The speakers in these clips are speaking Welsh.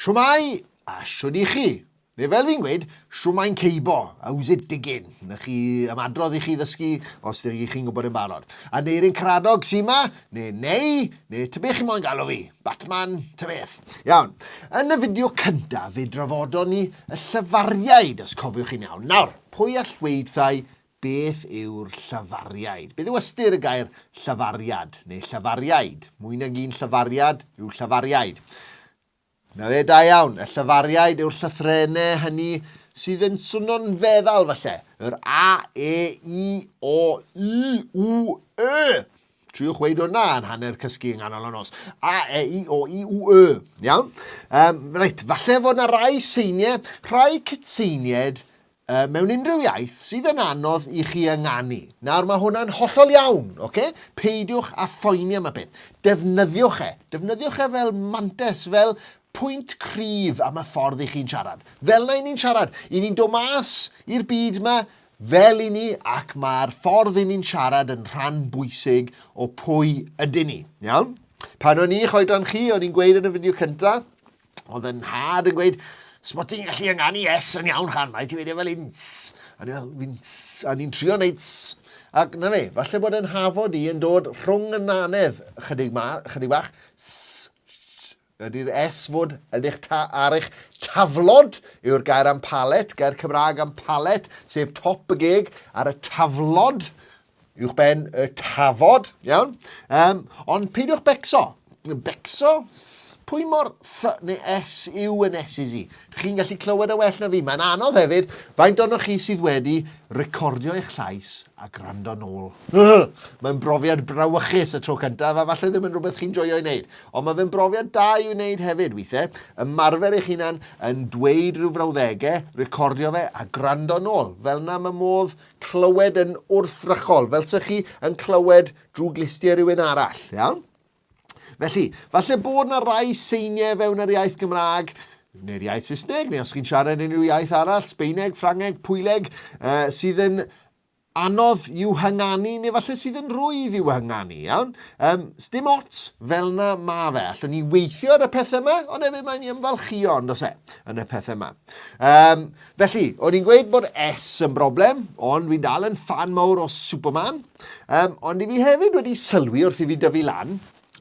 Shwmae, a shwd i chi? Neu fel fi'n gweud, shwmae'n ceibo, how's it digging? Na chi am adrodd i chi ddysgu os dych chi'n gwybod yn barod. Aneurin Caradog sy'n ma, neu neu, neu tybech chi moyn galw fi, Batman, ta beth. Iawn, yn y fideo cyntaf fe drafodon ni y llyfariaid, os cofiwch chi'n iawn. Nawr, pwy all weud thai Beth yw'r llafariaid? Beth yw ystyr y gair llafariad neu llafariaid? Mwy nag un llafariad yw llafariaid. Na fe, da iawn. Y llafariaid yw'r llythrenau hynny sydd yn swnio'n feddal falle. Yr A, E, I, O, U, U, E. Triwch weid hwnna yn hanner cysgu yng nghanol y nos. A, E, I, O, I, U, E. Iawn? Um, reit, falle fod yna rai seiniau, rhai cytseiniaid Yy, mewn unrhyw iaith sydd yn anodd i chi ynganu. Nawr, mae hwnna'n hollol iawn, oce? Okay? Peidiwch a phoeni am y peth. Defnyddiwch e. Defnyddiwch e fel mantes, fel pwynt cryf am y ffordd i chi'n siarad. Fel na i ni'n siarad, i ni'n dod mas i'r byd yma fel i ni ac mae'r ffordd i ni'n siarad yn rhan bwysig o pwy ydyn ni. Iawn? Pan o'n i eich oedran chi, o'n i'n gweud yn y fideo cyntaf, Oedd yn nhad yn gweud, sbot ti'n gallu ynganu S yn iawn chan, mae ti'n medio fel ins. A ni'n fel, fins, a ni'n trio wneud S. Ac na fe, falle bod yn hafod i yn dod rhwng y nanedd chydig, ma, chydig bach, S, ydy'r S fod yn eich ta, ar eich taflod yw'r gair am palet, gair Cymraeg am palet, sef top y geg ar y taflod, uwchben y tafod, iawn? Um, ond peidiwch becso. Becso? Pwy mor th neu s yw yn esys i? Chi'n gallu clywed y e well na fi. Mae'n anodd hefyd, faint o'n chi sydd wedi recordio eich llais a gwrando nôl. Mae'n brofiad brawychus y tro cyntaf a falle ddim yn rhywbeth chi'n joio i wneud. Ond mae fe'n brofiad da i'w wneud hefyd weithiau. Ymarfer eich hunan yn dweud rhyw frawddegau, recordio fe a gwrando nôl. Fel na mae modd clywed yn wrthrychol, fel sy'ch chi yn clywed drwy glustie rhywun arall, iawn? Felly, falle bod yna rai seiniau fewn yr iaith Gymraeg neu'r iaith Saesneg, neu os chi'n siarad unrhyw iaith arall, Sbeineg, Ffrangeg, Pwyleg, uh, sydd yn anodd i'w hynganu, neu falle sydd yn rwydd i'w hynganu, iawn? Um, Sdim ots fel yna ma fe. Allwn ni weithio ar y pethau yma, ond hefyd mae'n ni ymfalchio, ond os e, yn y pethau yma. Um, Felly, o'n i'n gweud bod S yn broblem, ond fi'n dal yn fan mawr o Superman. Um, ond i fi hefyd wedi sylwi wrth i fi dyfu lan,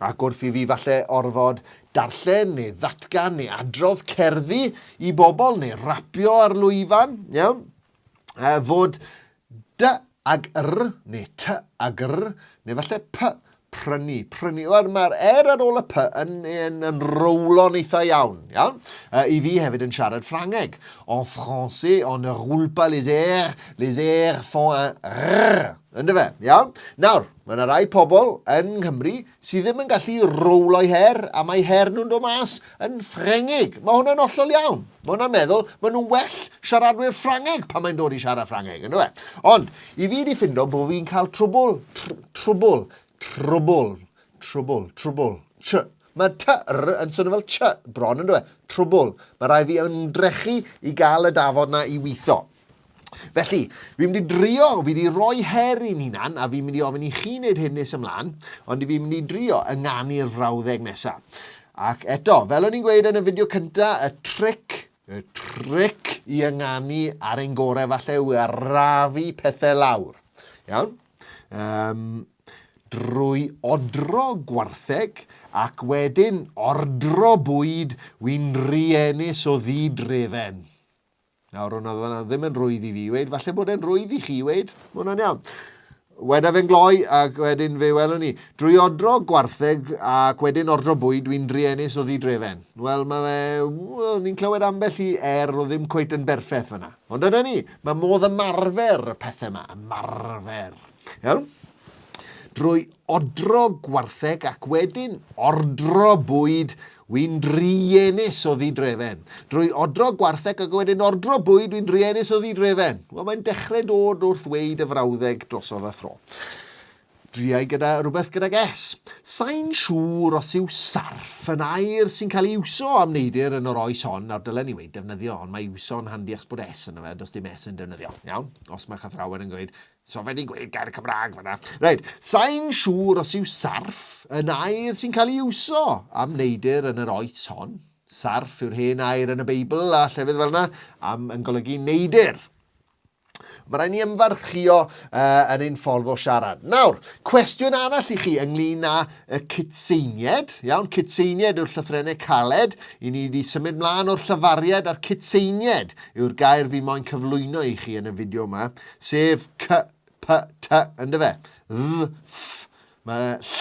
ac wrth i fi falle orfod darllen neu ddatgan neu adrodd cerddi i bobl neu rapio ar lwyfan, iawn, uh, fod Dy ag yr, neu ty ag yr, neu falle py, prynu, prynu. Wel, mae'r er ar ôl y py yn, yn, yn rowlo'n eitha iawn, iawn? Uh, I fi hefyd yn siarad Ffrangeg. En français, on ne roule pas les airs, les airs font un rrr. Ynddo fe, iawn? Nawr, mae yna rai pobl yn Nghymru sydd ddim yn gallu rowlo'i her, a mae her nhw'n dod mas yn Ffrengig. Mae hwnna'n ollol iawn. Mae hwnna'n meddwl, mae nhw'n well siaradwyr Ffrangeg pan mae'n dod i siarad Ffrangeg, ynddo fe? Ond, i fi wedi ffindo bod fi'n cael trwbl, tr, trwbl, trwbl, trwbl, trwbl, tr. Mae tyr yn swnio fel tr bron, ynddo fe? Trwbl. Mae rhaid fi ymdrechu i gael y dafod na i weithio. Felly, fi'n mynd i drio, fi wedi rhoi her i'n hunan, a fi'n mynd i ofyn i chi wneud hyn nes ymlaen, ond fi'n mynd i drio ynganu'r frawddeg nesaf. Ac eto, fel o'n i'n gweud yn y fideo cynta, y tric, y tric i ynganu ar ein gorau falle yw arafu pethau lawr. Iawn? Um, drwy odro gwartheg ac wedyn ordro bwyd wy'n rienus o ddidrefen. Nawr, hwnna oedd yna ddim yn rwydd i fi weid, falle bod e'n rwydd i chi weid, mae hwnna'n iawn. Weda fe'n gloi ac wedyn fe welwn ni. Drwy odro gwartheg ac wedyn ordro bwyd dwi'n druenus o ddidrefen. Wel, mae fe... Wel, ni'n clywed ambell i er o ddim cweit yn berffeth fyna. Ond dyna ni, mae modd ymarfer y pethau yma, ymarfer. Iawn? Drwy odro gwartheg ac wedyn ordro bwyd wy'n druenus o ddidrefen. Drwy odro gwartheg ac wedyn ordro bwyd wy'n druenus o ddidrefen. Wel, mae'n dechrau dod wrth weid y frawddeg drosodd a thro. Driau gyda rhywbeth gydag S. Sain siŵr os yw sarff yn air sy'n cael ei iwso am neidr yn yr oes hon, nawr dylen ni weid defnyddio, ond mae iwso'n handi achos bod S yn yna, does dim S yn defnyddio. Iawn? Os mae chathrawen yn gweud, So fe di gweud gair Cymraeg fanna. Reit, sain siŵr os yw sarff yn air sy'n cael ei iwso am neidr yn yr oes hon. Sarff yw'r hen air yn y Beibl a llefydd fel yna am yn golygu neidr. Mae rhaid ni ymfarchio uh, yn ein ffordd o siarad. Nawr, cwestiwn arall i chi ynglyn â y cytseinied. Iawn, cytseinied yw'r llythrennau caled. I ni wedi symud mlaen o'r llyfariad a'r cytseinied yw'r gair fi moyn cyflwyno i chi yn y fideo yma. sef c, p, t, yn dy fe? Dd, ff, mae ll,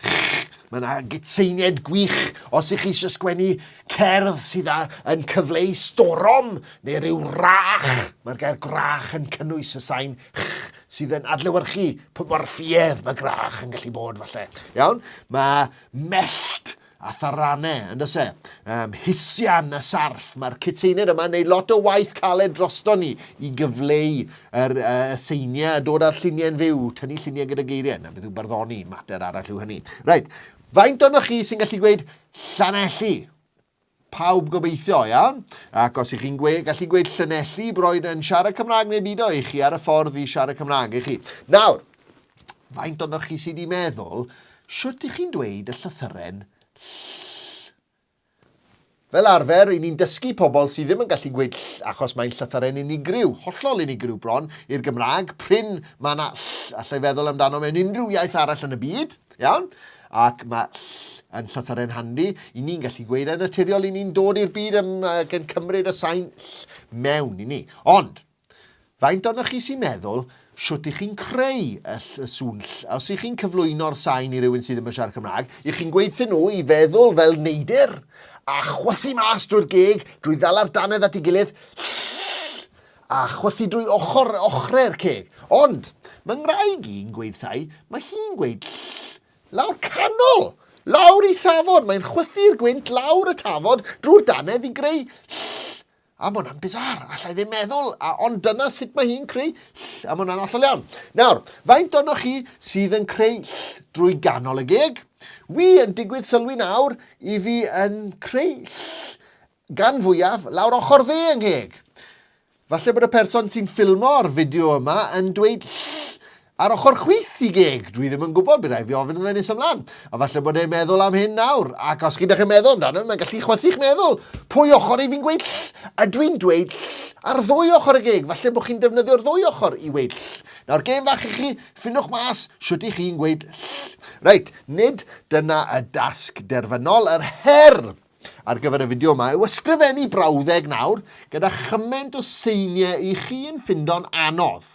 ch, mae yna gytseiniaid gwych os ych chi eisiau sgwennu cerdd sydd â, yn cyfleu storom neu rhyw rach. Mae'r gair gwrach yn cynnwys y sain ch sydd yn adlewyrchu pwy mor ffuedd mae gwrach yn gallu bod falle. Iawn? Mae mellt a tharanne, yn does e? Um, hisian a sarff, mae'r cyteined yma yn neud lot o waith caled drosto ni i gyfleu yr uh, seiniau a dod â'r lluniau'n fyw, tynnu lluniau gyda geiriau, na beth yw barddoni, mater arall yw hynny. Rhaid, faint o'n chi sy'n gallu gweud Llanelli? Pawb gobeithio, ia? Ac os y'ch chi'n gwe, gallu gweud Llanelli, broed yn siarad Cymraeg neu byd o i chi ar y ffordd i siarad Cymraeg i chi. Nawr, faint o'n chi sydd wedi meddwl, siwt i chi'n dweud y llythyren ll? Fel arfer, i ni'n dysgu pobl sydd ddim yn gallu gweud ll achos mae'n llythyren unigryw, hollol unigryw bron, i'r Gymraeg, prin mae yna ll, allai feddwl amdano mewn unrhyw iaith arall yn y byd. Iawn? Ac mae ll yn llythyren handi i ni'n gallu gweud yn naturiol i ni'n dod i'r byd ym, ac yn cymryd y sain ll mewn i ni. Ond, faint ohonoch chi sy'n meddwl shwt i chi'n creu y ll y sŵn ll? A os i chi'n cyflwyno'r sain i rywun sydd ddim yn siarad Cymraeg, i chi'n gweud thyn nhw i feddwl fel neidr a chwythu mas drwy'r geg, drwy ddala'r dannedd at ei gilydd, ll, a chwythu drwy ochr ochrau'r ceg. Ond, mae ngwraig i'n gweud thai, mae hi'n gweud ll, lawr canol, lawr i thafod, mae'n chwythu'r gwynt lawr y tafod drwy'r dannedd i greu ll, a mae hwnna'n bizar, allai ddim meddwl, a ond dyna sut mae hi'n creu ll, a mae hwnna'n allol iawn. Nawr, faint o'noch chi sydd yn creu ll drwy ganol y geg? Wi yn digwydd sylwi nawr i fi yn creu ll Gan fwyaf, lawr ochr dde yng ngheg. Falle bod y person sy'n ffilmo'r fideo yma yn dweud ll ar ochr chwith i geg. Dwi ddim yn gwybod, bydd rhaid fi ofyn iddo fe nes ymlaen. A falle bod e'n meddwl am hyn nawr, ac os gyda chi'n meddwl amdano, mae'n gallu chwythu'ch meddwl. Pwy ochr i fi'n gweud ll? A dwi'n dweud ll ar ddwy ochr y geg, falle bod chi'n defnyddio'r ddwy ochr i weud ll. Nawr gêm fach i chi, ffinwch mas shwt i chi'n gweud ll. Reit, nid dyna y dasg derfynol, yr her Ar gyfer y fideo yma yw ysgrifennu brawddeg nawr gyda chyment o seiniau i chi'n ffindo'n anodd.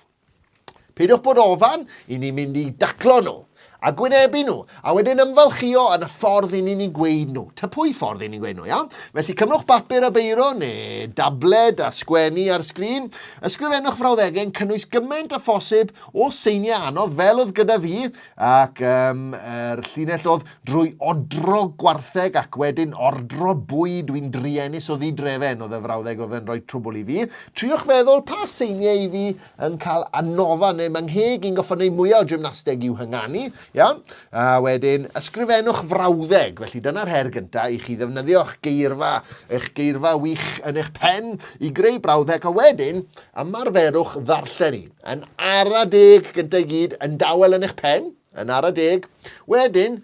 Peidiwch bod ofan i ni mynd i daclo nhw a gwynebu nhw, a wedyn ymfalchio yn y ffordd i ni'n ei gweud nhw. Ta pwy ffordd i ni'n gweud nhw, iawn? Felly cymrwch bapur a beiro neu dabled a sgwennu ar sgrin. Ysgrifennwch frawddegau'n cynnwys gymaint a phosib o seiniau anodd fel oedd gyda fi Ac ym yr llinell oedd, Drwy odro gwartheg ac wedyn ordro bwyd wi'n druenus o ddidrefen, oedd y frawddeg oedd yn rhoi trwbwl i fi. Triwch feddwl pa seiniau i fi yn cael annofa neu ma' ngheg i'n gorfod neud mwya o gymnasteg i'w hynganu. Iawn? A wedyn, ysgrifennwch frawddeg. Felly dyna'r her gynta i chi ddefnyddio'ch geirfa, eich geirfa wych yn eich pen i greu brawddeg a wedyn, ymarferwch ddarllen i. Yn ara deg gyda i gyd, yn dawel yn eich pen, yn ara deg. Wedyn,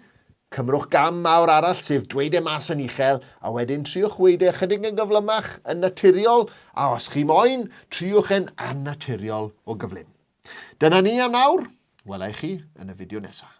cymrwch gam mawr arall sef dweud e mas yn uchel a wedyn triwch weud e ychydig yn gyflymach, yn naturiol, a os chi moyn, triwch e'n annaturiol o gyflym. Dyna ni am nawr, wela i chi yn y fideo nesaf.